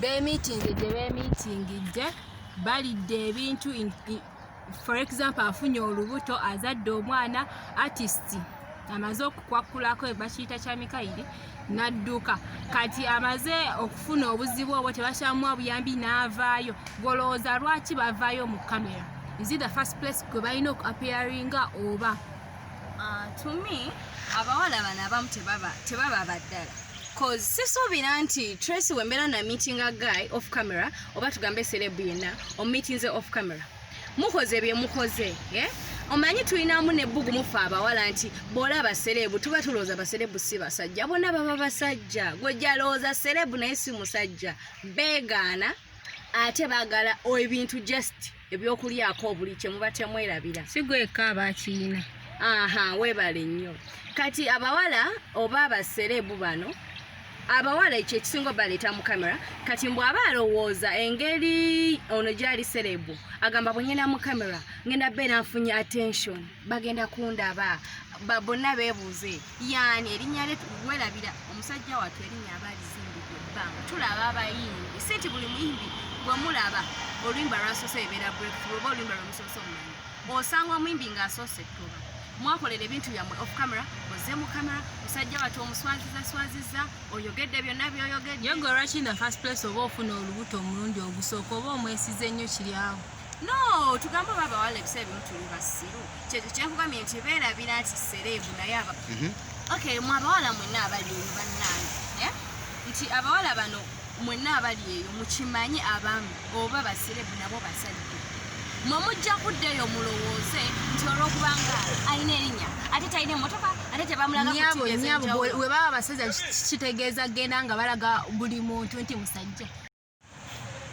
bemitinze gye bemitingidde balidde ebintu for example afunye olubuto azadde omwana artist amaze okukwakulako bakiyita kya mikayiri nadduka kati amaze okufuna obuzibu obwo tebakyamuwa buyambi n'avaayo golowooza lwaki bavaayo mu kamera is it the first place kwe balina okuapearinga oba Ah, to me abawala bano abamu tebaba tebaba baddala cause sisuubira nti tracy wembeera na meeting a guy off camera oba tugambe serebu yenna omumeetinze off camera mukoze bye mukoze eh? omanyi tulinamu nebbugu mufe abawala nti boola baserebu tuba tulowooza baserebu si basajja bona baba basajja gwejalowooza serebu naye si musajja beegaana ate bagala ebintu just ebyokulyako obuli kyemuba temwerabira sigweka abakiina aha webale nnyo kati abawala oba abasereebu bano abawala ekyo ekisinga obaleeta mu kamera kati mbw aba alowooza engeri ono gyali sereebu agamba bwengenda mu kamera ngenda beera nfunye attention bagenda kundaba bonna beebuuze yani erinnya lye werabira omusajja watu erinnya aba alizimbidde ebbanga tulaba abayimbi si nti buli muyimbi gwe mulaba oluyimba lwasoose ebeera breakthrough oba oluyimba lwemusoose omumanyi osanga omuyimbi ng'asoose ettuba mwakolera ebintu byammwe off camera oze mu camera musajja watu omuswaziza swaziza oyogedde byonna byoyogedde yegwe lwaki na first place oba ofuna olubuto omulundi ogusooka oba omwesiza ennyo kiryawo no tugambe oba abawala ebisa ebimu tuli basiru kyekyo kyenkugambye nti beerabira nti sereebu naye aba mhm. ok mwe abawala mwenna abali eyo bannange eh? nti abawala bano mwenna abali eyo mukimanye abamu oba basereebu nabo basajja mwe mujja kudda eyo mulowooze nti olwokubanga alina erinya ate talina emotoka ate tebamulaganyabo webaba basajja kitegeeza genda nga balaga buli muntu nti musajja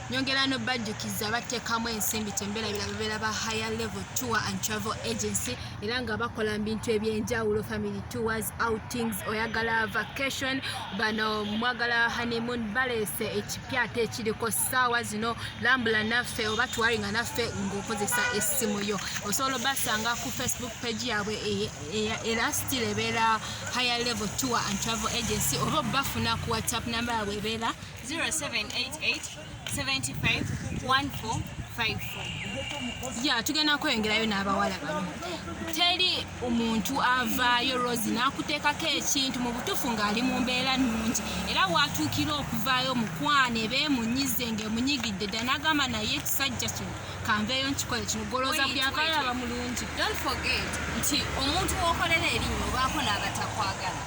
nyongera nobajjukiza battekamu ensimbi temberabira bebeera ba higher level tour and travel agency era nga bakola mubintu ebyenjawulo family tours outings oyagala vacation bano mwagala honeymoon balese ekipya ate ekiriko saawa zino lambula naffe oba tuwaringa naffe ngaokozesa essimu yo osobola obasanga ku facebook page yabwe e, e, era still ebeera higher level tour and travel agency oba obafuna ku whatsapp namba yabwe ebeera ya tugenda kweyongerayo n'abawala bano teri omuntu avaayo rosi n'akuteekako ekintu mu butuufu ng'ali mu mbeera nnungi era waatuukira okuvaayo mukwane beemunyize ng'emunyigidde dda n'agamba naye ekisajja kino kanveeyo nkikole kino golooza byavaayo aba mulungi nti omuntu wokolera erinnya obaako n'abatakwagala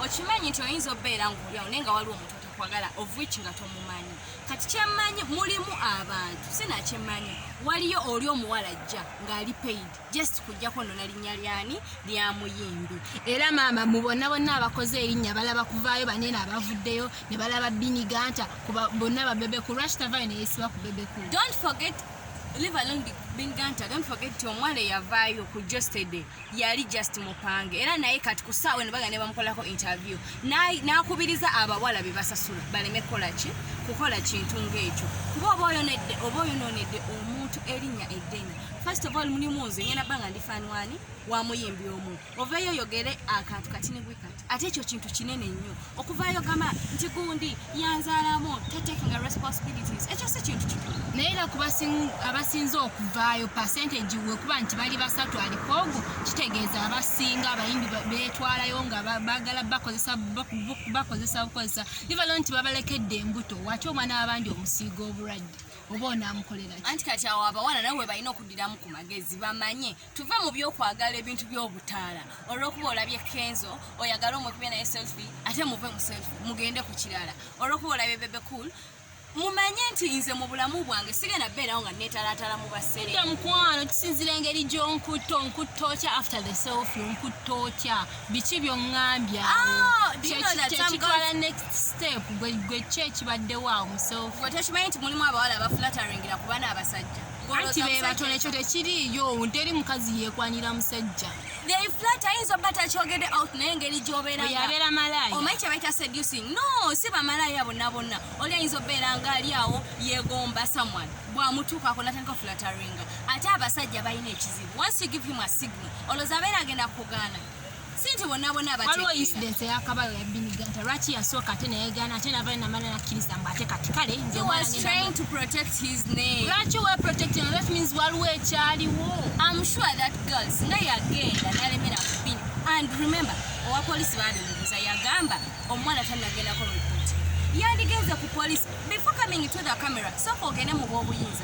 okimanyi nti oyinza obeera ng'olyawo naye nga waliwo omuntu kwagala of which nga tomumanyi kati kyemmanyi mulimu abantu sinakyemmanyi waliyo oli omuwala jja ng'ali paid just kujjako nona linnya lyani lya muyimbi era maama mu bonna bonna abakoze erinnya balaba kuvaayo banene abavuddeyo ne balaba biniganta kuba bonna babebeku lwaki tavaayo neyesiba ku bebeku don't forget live along biniganta don't forget ti omwala eyavaayo ku jostede yali just mupange era naye kati ku saawa eno baga ne bamukolako interview n'akubiriza abawala be basasula baleme kukola ki kukola kintu ng'ekyo kuba oba oyonedde oba oyonoonedde omuntu erinnya eddene first of all mulimu nze ngenda banga ndi fanwani wamuyimbi omu ovaeyo oyogere akantu katini bwe kati ate ekyo kintu kinene nnyo okuvaayo gamba nti gundi yanzaalamu tatekinga responsibilities ekyo si kintu kikulu naye era ku abasinze okuvaayo percentage wekuba nti bali basatu aliko ogwo kitegeeza abasinga abayimbi betwalayo nga bagala bakozesa bakozesa bukozesa ivalo nti babalekedde embuto wati omwana wabandi omusiiga obulwadde oba onaamukolera anti kati awo abawala nawe webalina okuddiramu ku magezi bamanye tuve mu byokwagala ebintu byobutaala olwokuba olabye kenzo oyagala omukube naye selfi ate muve mu selfi mugende ku kirala olwokuba olabye bebe cool mumanye nti nze mu bulamu bwange sigenda beerawo nga neetalatala mu basere mukwano kisinzira engeri gyonkutta onkutta otya after the selfi onkutta otya biki byoŋŋambya ah, kyekitwala next step gwe kyo ekibaddewo awo mu selfi gwe tokimanyi nti mulimu abawala abafulataringira kuba n'abasajja anti bebato nekyo tekiriiyo teri mukazi yekwanira musajja ayinza oba takyogede out naye engeri gyobeerayabeera malaaya omanyi kyebaita seducing no si bamalaaya bonna bonna oli ayinza obeera nga ali awo yegomba someone bwamutuukako natandika ofulataringa ate abasajja balina ekizibu once you give him a signal olwoza abeera agenda kugaana sente bonabona waliwo incident eyakabayo yabiniga nti lwaki yasooka ate neyegana ate nava namala nakkiriza mbu ate kati kale lwaki weprotecting that means waliwo ekyaliwo am sure that girl singa yagenda nalemera kubini and remember owa polisi babimubuza yagamba omuwala tanagendako mukoti yandigenze ku polisi before coming to the camera soka ogende mu bwobuyinza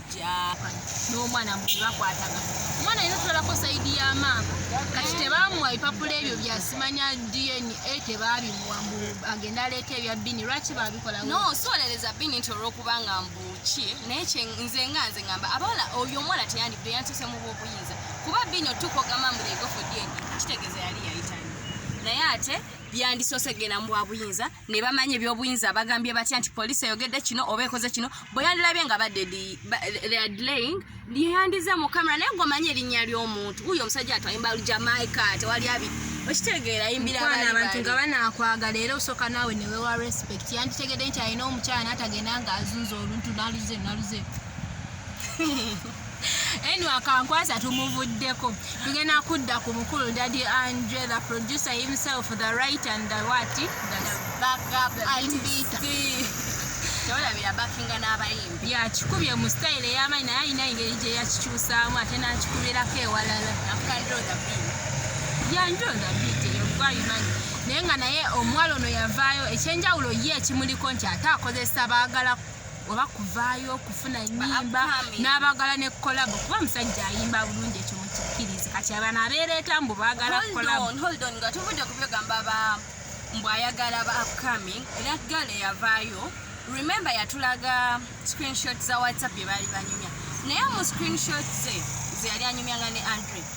n'omwana mu bakwataga omwana yina otwalako saidi ya maama kati tebamuwa bipapula ebyo byasimanya dna tebabimuwa mbu agenda aleeta ebya bini lwaki babikola no solereza bini nti olwokubanga mbu ki naye nze nga nze ngamba abawala oyo omwana teyandibde yantuse mu bwobuyinza kuba bini otuuka ogamba mbu egofo dna kitegeeza yali yayitani naye ate byandisose genda mu bwabuyinza ne bamanya ebyobuyinza bagambye batya nti poliisi eyogedde kino oba ekoze kino bwe yandilabye nga baddedlaying yeyandize mu kamera naye gomanya erinnya ly'omuntu uyo omusajja atwaimbalu jamaica tewali abi okitegeera yimbirabantu nga banakwagala era osooka naawe newewa respect yanditegedde nti alina omukyala natagenda nga azunza oluntu naluze naluze anyway akankwasa tumuvuddeko tugenda kudda ku mukulu daddy andre the producer himself the right and the what the backup artist tewalabira bakinga n'abayimbi yakikubye mu sitayiro ey'amaanyi naye alina engeri gye yakikyusaamu ate n'akikubirako ewalala yanjodabit eyo gwayimanyi naye nga naye omuwala ono yavaayo ekyenjawulo ye ekimuliko nti ate akozesa baagala oba kuvaayo okufuna nyimba n'abagala ne kolabo kuba musajja ayimba bulungi ekyo mukikkirizi kati abana abeereeta mbu baagala nga tuvudde kubyogamba ba mbu ayagala ba upcoming era gale yavaayo remember yatulaga screenshot za whatsapp bye baali banyumya naye mu screenshot ze zeyali anyumyanga ne andre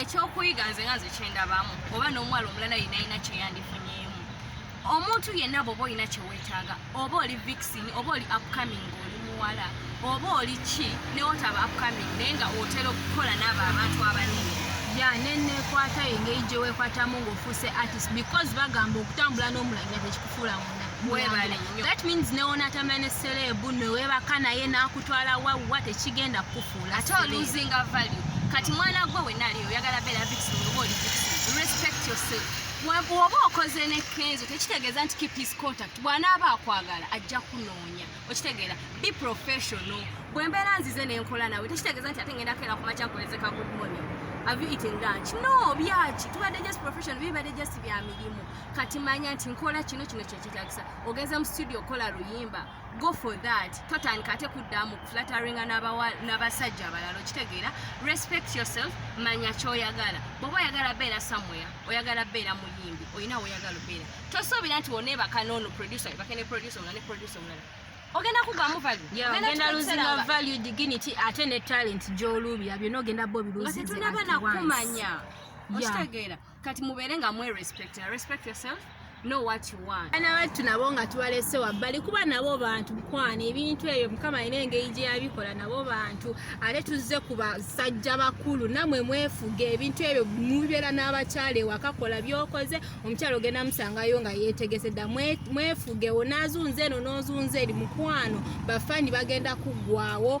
ekyokuyiga nze nga nze kyendabamu oba n'omuwala omulala yina yina kyeyandifunyeemu omuntu yenna bwoba olina kyewetaaga oba oli vixin oba oli upcoming oli muwala oba oli ki newotaba upcoming naye nga otera okukola naabo abantu abanene ya nenekwata engeri gyewekwatamu ngaofuuse artist because bagamba okutambula n'omulangira tekikufuulamu webale that means newonatamya ne serebu newebaka naye nakutwala wawa tekigenda kukufuula ate oluzinga value kati mwana gwe wenali oyagala beera vixen oba oli vixen respect yourself woba okoze ne kenzo tekitegeeza nti keep his contact bwanaaba akwagala ajja kunoonya okitegeera be professional bwembeera nzize nenkola nawe tekitegeeza nti ate ngenda keera kumakya nkolezeka good morning have you eaten lunch no byaki tubadde just professional bibadde just bya mirimu kati manya nti nkola kino kino kyekyetagisa ogenze mu studio okola luyimba go for that totandika ate kuddamu flatteringa n'abasajja abalala okitegeera respect yourself manya kyoyagala bwoba oyagala beera somewhere oyagala beera muyimbi olina woyagala obeera tosuubira nti woneebaka noono producer ebake ne producer omulala ne producer omulala ogenda kugwamu valueogenda luzina value dignity ate ne talent gyoluubira byona ogenda bo biluzinze nga tetunaba nakumanya okitegeera yeah. kati mubeere nga mwe respect respect yourself know what you want ana battu nabo nga tubalese wabbali kuba nabo bantu mukwana ebintu ebyo mukama alina engeri gye yabikola nabo bantu ate tuzze ku basajja bakulu namwe mwefuge ebintu ebyo mubeera n'abakyala ewakakola byokoze omukyala ogenda musangayo nga yetegese dda mwefuge onazunza eno nozunza eri mukwano bafani bagenda kuggwawo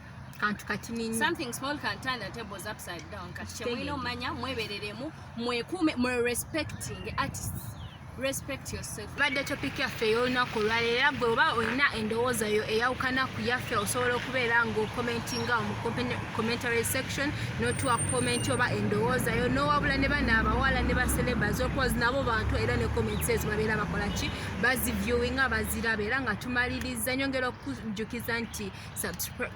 kantu kati ninyi something small can turn the tables upside down kati kyemulina omanya mwebereremu mwekuume mwe respecting artists respect yourself badde topic yaffe ey'olunaku olwaleero era gwe oba olina endowooza yo eyawukana ku yaffe osobola okubeera ng'okomentinga mu commentary section notuwa komenti oba endowooza yo nowabula ne bana abawala ne bacelebas okozi nabo bantu era ne comments ezo babeera bakola ki baziviewinga baziraba era nga tumaliriza nyongera okujjukiza nti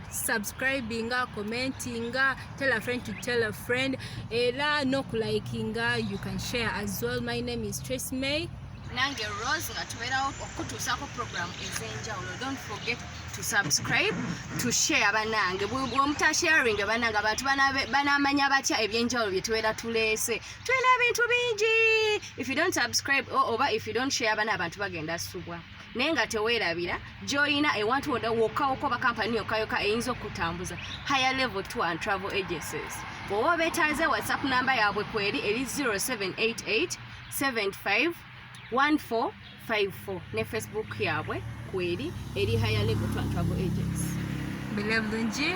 subscribinga commentinga tell a friend to tell a friend era nokulayikinga you can share as well my name is trace may nange rose nga tubeerawo okukutuusaako program ez'enjawulo don't forget to subscribe to share banange bwomutasharing banange abantu banamanya batya ebyenjawulo bye tubeera tuleese tulina ebintu bingi if you don't subscribe oba if you don't share bana abantu bagenda subwa naye nga teweerabira gyolina ewantu woda wokkawoko bakampani yokayoka eyinza okutambuza higher level tour and travel agencies oba obetaaze whatsapp namba yaabwe kweri eri 0788 75 1454 ne facebook yaabwe kweri eri higher level tour and travel agency bilabulungi